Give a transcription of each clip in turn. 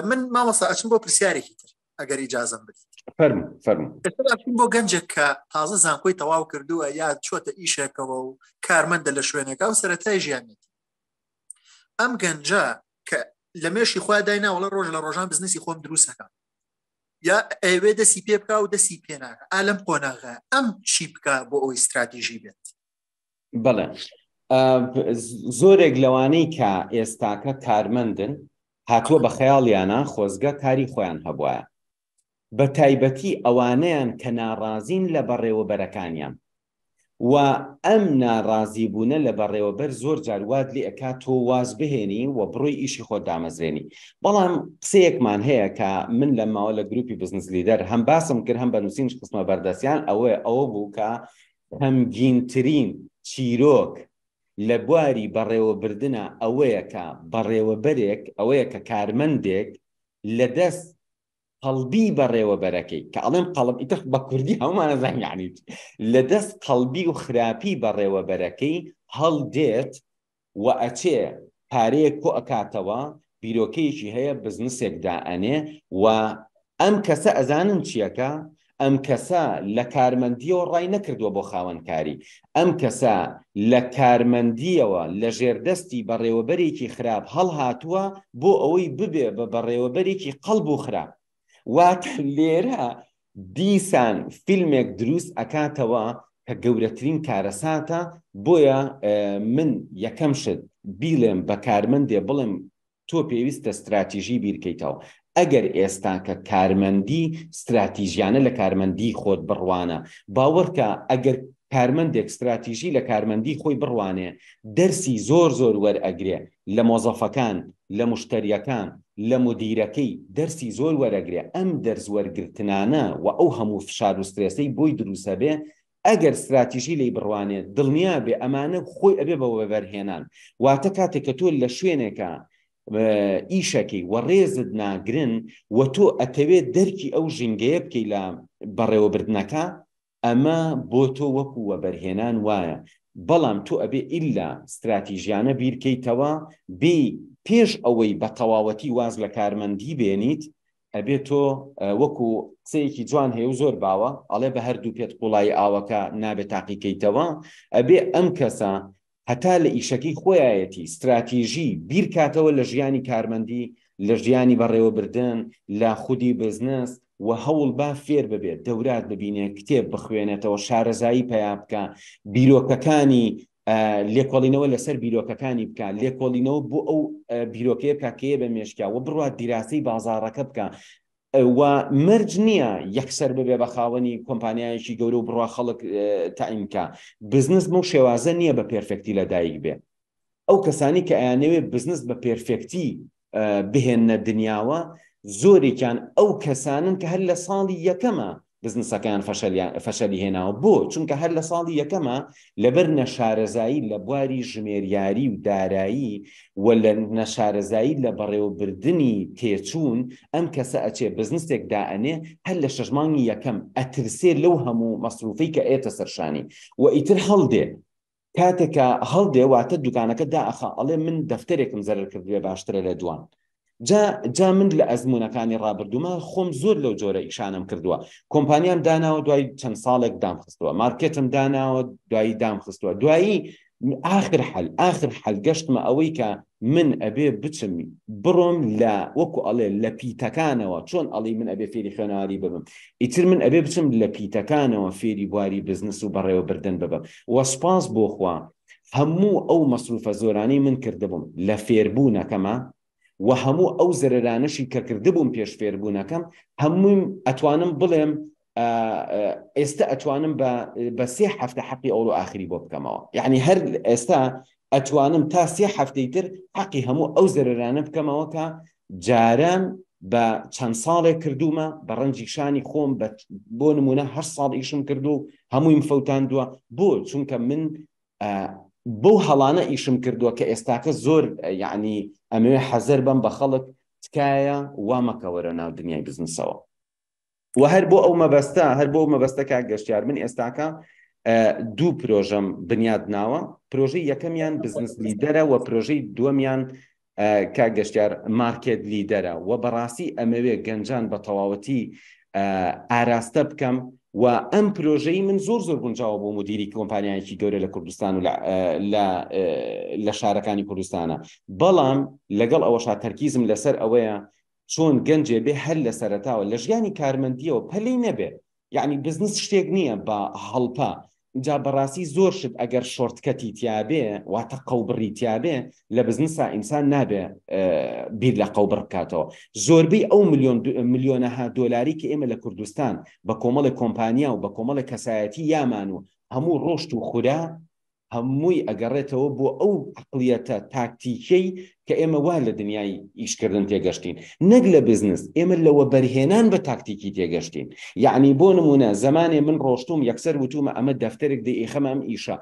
من مامۆستا ئەچم بۆ پرسیارێکی تر ئەگەر ئیجازم بدیت فەرم فەرم بۆ گەنجێک کە تازە زانکۆی تەواو کردووە یا چۆتە ئیشێکەوە و کارمەندە لە شوێنێکا و سەتای ژیانێت ئەم گەنجە کە لە مێشی خوا داینا وڵە ڕۆژ لە ڕۆژان بزنسی خۆم دروستەکە یا ئەوێ دەسی پێ بکە و دەسی پێناکە ئالم قۆناغە ئەم چی بکە بۆ ئەوی استراتیژی بێت بڵێ زۆرێک لەوانەی کە ئێستاکە کارمەندن هاتووە بە خەیاڵیانە خۆزگە کاری خۆیان هەبواە بە تایبەتی ئەوانەیان کە ناڕازین لە بەڕێوەبەرەکانیان و ئەم ناڕازی بوونە لە بەڕێوەبەر زۆر جاروات لێ ئەکا تۆ واز بهێنی و بڕۆی ئیشی خۆ دامەزرێنی بەڵام قسەیەکمان هەیە کە من لە ماوە لە گروپی بزنس لیدەر هەم باسم کرد هەم بە نووسین قسمە بەردەسیان ئەوەیە ئەوە بوو کە خەمگینترین چیرۆک لە بواری بەڕێوەبردنا ئەوەیە کە بەڕێوەبەرێک ئەوەیە کە کارمەندێک لە دەست قەڵبی بەڕێوەبەرەکەی، کە ئەڵێم قەڵب ئیتر بە کوردی هەموومان ئەزانین یەعنی چی، لە دەست قەڵبی و خراپی بەڕێوەبەرەکەی هەڵدێت وەئەچێ پارەیەک کۆ ئەکاتەوە بیرۆکەیەکی هەیە بزنسێک دائەنێ و ئەم کەسە ئەزانن چیەکا ئەم کەسە لە کارمەندیەوە ڕای نەکردوە بۆ خاوەن کاری ئەم کەسە لە کارمەندیەوە لە ژێردەستی بەڕێوەبەرێکی خراپ هەڵهاتوە بۆ ئەوەی ببێ بە بەڕێوەبەرێکی قەڵب و خراپ واتە لێرە دیسان فیلمێک دروست ئەکاتەوە کە گەورەترین کارەساتە بۆیە من یەکەم شت بیڵێم بە کارمەندێ بڵێم تۆ پێویستە استراتیژی بیرکەیتەوە ئەگەر ئێستا کە کارمەندی استراتیژیانە لە کارمەندی خۆت بڕوانە باوەڕکە ئەگەر کارمەندێک استراتیژی لە کارمەندی خۆی بڕوانێ دەرسی زۆر زۆر وەرئەگرێ لە مۆزەفەکان، لە مشتەریەکان، لە مودیرەکەی، دەرسی زۆر وەرەگرێ، ئەم دەرس وەرگرتنانە و ئەو هەموو فشار و سترێسەی بۆی دروست ئەبێ، ئەگەر ستراتیژی لێی بڕوانێ، دڵنیا بێ ئەمانە خۆی ئەبێ بە وەبەرهێنان، واتە کاتێک کە تۆ لە شوێنێکا ئیشەکەی و ڕێزت ناگرن و تۆ ئەتەوێ دەرکی ئەو ژینگەیە بکەی لە بەڕێوەبردنەکە، ئەمە بۆ تۆ وەکو وەبەرهێنان وایە، بەڵام تۆ ئەبێ ئیلا ستراتیژیانە بیرکەیتەوە بی پێش ئەوەی بە تەواوەتی واز لە کارمەندی بێنیت، ئەبێ تۆ وەکو قسەیەکی جوان هەیە و زۆر باوە ئەڵێ بە هەردوو پێت قوڵایی ئاوەکە نابێ تاقیکەیتەوە، ئەبێ ئەم کەسە هەتا لە ئیشەکەی خۆیایەتی ستراتیژی بیرکاتەوە لە ژیانی کارمەندی، لە ژیانی بەڕێوەبردن، لە خودی بزنس و هەوڵبا فێر ببێت، دەورات ببینێت، کتێب بخوێنێتەوە، شارەزایی پەیا بکا، بیرۆکەکانی لێکۆڵینەوە لەسەر بیرۆکەکانی بکا، لێکۆڵینەوە بۆ ئەو بیرۆکەیە بکا کە یە بە مێشکیا و بڕوات دیراسەی بازاڕەکە بکا، و مەرج نییە یەکسەر ببێ بە خاوەنی کۆمپانیایەکی گەورە و بڕوا خەڵک تەعین کا بزنس بەو شێوازە نییە بە پێرفێکتی لە دایک بێ ئەو کەسانی کە ئەیانەوێ بزنس بە پێرفێکتی بهێننە دنیاوە زۆرێکیان ئەو کەسانن کە هەر لە ساڵی یەکەمە بزنسەکەیان فەشەلی هێناوە بۆ چونکە هەر لە ساڵی یەکەمە لەبەر نەشارەزایی لە بواری ژمێریاری و دارایی و لە نەشارەزایی لە بەڕێوەبردننی تێچوون ئەم کەسە ئەچێ بزنسێک دائەنێ هەر لە شەژمانگی یەکەم ئەترسێ لەو هەموو مەسروفی کە ئێتە سەرشانی و ئیتر هەڵدێ کاتێک کە هەڵدێ واتە دوکانەکە دائەخا ئەڵێ من دەفتەرێکم زەرەر کردوێ باشترە لە دوان جا جا من لە ئەزمونونەکانی ڕابردوومە خۆم زۆر لەو جۆرە ئیشانم کردووە کۆمپانیام داناوە دوای چەند ساڵێک دام خستووە مارکێتم داناوە دوایی دام خستووە دوایی آخر حل آخر حل گەشتمە ئەوەی کە من ئەبێ بچم بڕۆم لە وەکو ئەڵێ لە پیتەکانەوە چۆن ئەڵی من ئەبێ فێری خوێنەواری ببم ئیتر من ئەبێ بچم لە پیتەکانەوە فێری بواری بزنس و بەڕێوەبردن ببم وە سپاس بۆخوا هەموو ئەو مەسروفە زۆرانەی من کردبووم لە فێربوونەکەمە و هەموو ئەو زەرەرانەشی کە کردبووم پێش فێربوونەکەم هەموویم ئەتوانم بڵێم ئێستا ئەتوانم بە بە سێ هەفتە حەقی ئەوڵ و ئاخری بۆ بکەمەوە یعنی هەر ئێستا ئەتوانم تا سێ هەفتەی تر حەقی هەموو ئەو زەررانە بکەمەوە کە جاران بە چەند ساڵێک کردومە بە ڕەنجی شانی خۆم بۆ نمونە هە ساڵ ئیشم کردو و هەموویم فەوتاندووە بۆ چونکە من بەو هەڵانە ئیشم کردووە کە ئێستاکە زۆر یعنی ئەمەوێ حەزەر بم بە خەڵک تکایە وامەکەوەرە ناو دنیای بزنسەوە و هەر بۆ ئەو مەبەستە هەر بۆ مەبەستە کاک گەشتیار من ئێستاکە دوو پرۆژەم بنیاد ناوە پرۆژەی یەکەمیان بزنس لیدەرە و پرۆژەی دووەمیان کا گەشتار مارکێت لیدەرە و بەڕاستی ئەمەوێ گەنجان بە تەواوەتی ئاراستە بکەم و ئەم پرۆژەی من زۆر زۆر گونجاوە بۆ مدیری کۆمپانیایکی گەورە لە کوردستان و لە شارەکانی کوردستانە بەڵام لەگەڵ ئەوەشا تەرکیزم لەسەر ئەوەیە چۆن گەنجێ بێ هەر لە سەرتاوە لە ژیانی کارمەندیەوە پەلی نەبێ یعنی بزنس شتێک نییە بە هەڵپە جا بەڕاستی زۆر شت ئەگەر شۆرتکەتی تیاابێ واتە قەوبڕی تیاابێ لە بزنسا ئینسان نابێ بیر لە قەوبڕ بکاتەوە زۆربەی ئەو میلیۆن میلیۆنەها دۆلاری کە ئێمە لە کوردستان بە کۆمەڵی کۆمپانیا و بە کۆمەڵی کەسایەتی یامان و هەموو ڕۆشت و خورا هەمووی ئەگەڕێتەوە بۆ ئەو عەقڵیەتە تاکتیکیەی کە ئێمە وا لە دنیای ئیشکردن تێگەشتین نەک لە بزنس ئێمە لە وەبەرهێنان بە تاکتیکی تێگەشتین یەعنی بۆ نمونە زەمانێ من ڕۆشتوم یەکسەر وتومە ئەمە دەفتەرێک دەیئێخەمە ئەم ئیشە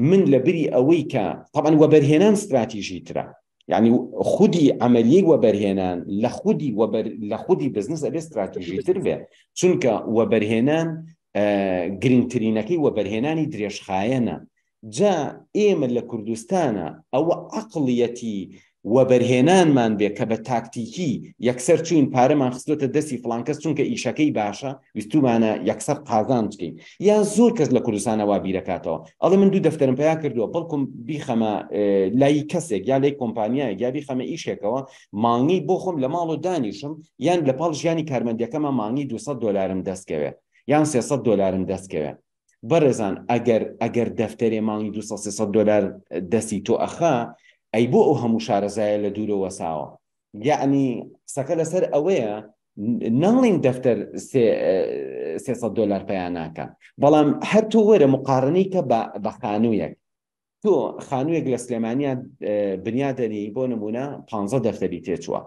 من لە بری ئەوەی کە تەبەن وەبەرهێنان ستراتیژی ترە یعنی خودی ئەمەریەک وەبەرهێنان لە خودی لە خودی بزنس ئەبێ استراتیژی تر بێ چونکە وەبەرهێنان گرنگترینەکەی وەبەرهێنانی درێژخایەنە جا ئێمە لە کوردستانە ئەوە عقلیەتی وەبەرهێنانمان بێ کە بە تاکتیکی یەکسەر چوین پارەمان خستۆتە دەستی فلانکەس چونکە ئیشەکەی باشە ویستومانە یەکسەر قازان بکەین یا زۆر کەس لە کوردستانە وا بیرەکاتەوە ئەڵێ من دوو دەفتەرم پیا کردووە بەڵکم بیخەمە لای کەسێک یا لەی کۆمپانیایە یا بیخەمە ئیشێکەوە مانگی بۆ خۆم لە ماڵۆ دانیشم یان لە پاڵ ژیانی کارمەندەکەمە مانگی 200 دلارم دەستکەوێ یان 300 دلارم دەستکەوێ بەڕێزان ئەگەر ئەگەر دەفتەرێ مانگی 200 دلار دەستی تۆ ئەخا ئەی بۆ ئەو هەموو شارەزایە لە دوورەوە ساوە یعنی قسەکە لەسەر ئەوەیە ناڵین دەفتەر سێسە دلار پەیاناکە بەڵام هەر تۆ وەرە مقارنەی کە بە خانوویەک تۆ خانوویەک لە سلێمانیا بنیادەنی بۆ نمونە پ دەفتەری تێچووە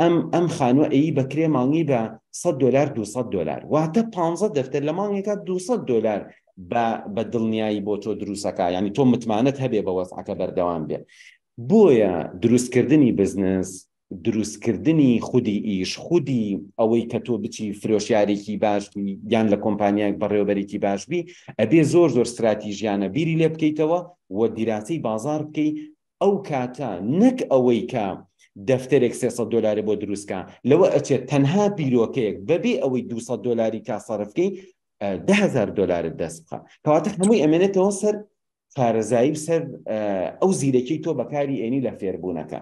ئەم ئەم خانووە ئەی بەکرێ مانگی بە 100 دلار 200 دلار واتە پ دەفتەر لە مانگێکە 200 دلار بە دڵنیایی بۆ تۆ دروستەکە ینی تۆ متمانەت هەبێ بە وەسعەکە بەردەوام بێ بۆیە دروستکردنی بزنس دروستکردنی خودی ئیش، خودی ئەوەی کە تۆ بچی فرۆشیارێکی باش بی یان لە کۆمپانیایەک بەڕێوەبەرێکی باش بی ئەبێ زۆر زۆر ستراتیژیانە بیری لێ بکەیتەوە و دیراسەی بازار بکەی ئەو کاتە نەک ئەوەی کە دەفتەرێک سێ سەد دۆلاری بۆ دروست کا لەوە ئەچێت تەنها بیرۆکەیەک بەبێ ئەوەی دوو سەد دۆلاری کا سەرف بکەی دە هەزار دۆلارت دەست بخە کەواتە هەمووی ئەمێنێتەوە سەر شارەزایی و سەر ئەو زیرەکی تۆ بەکاری ئێنی لە فێربوونەکە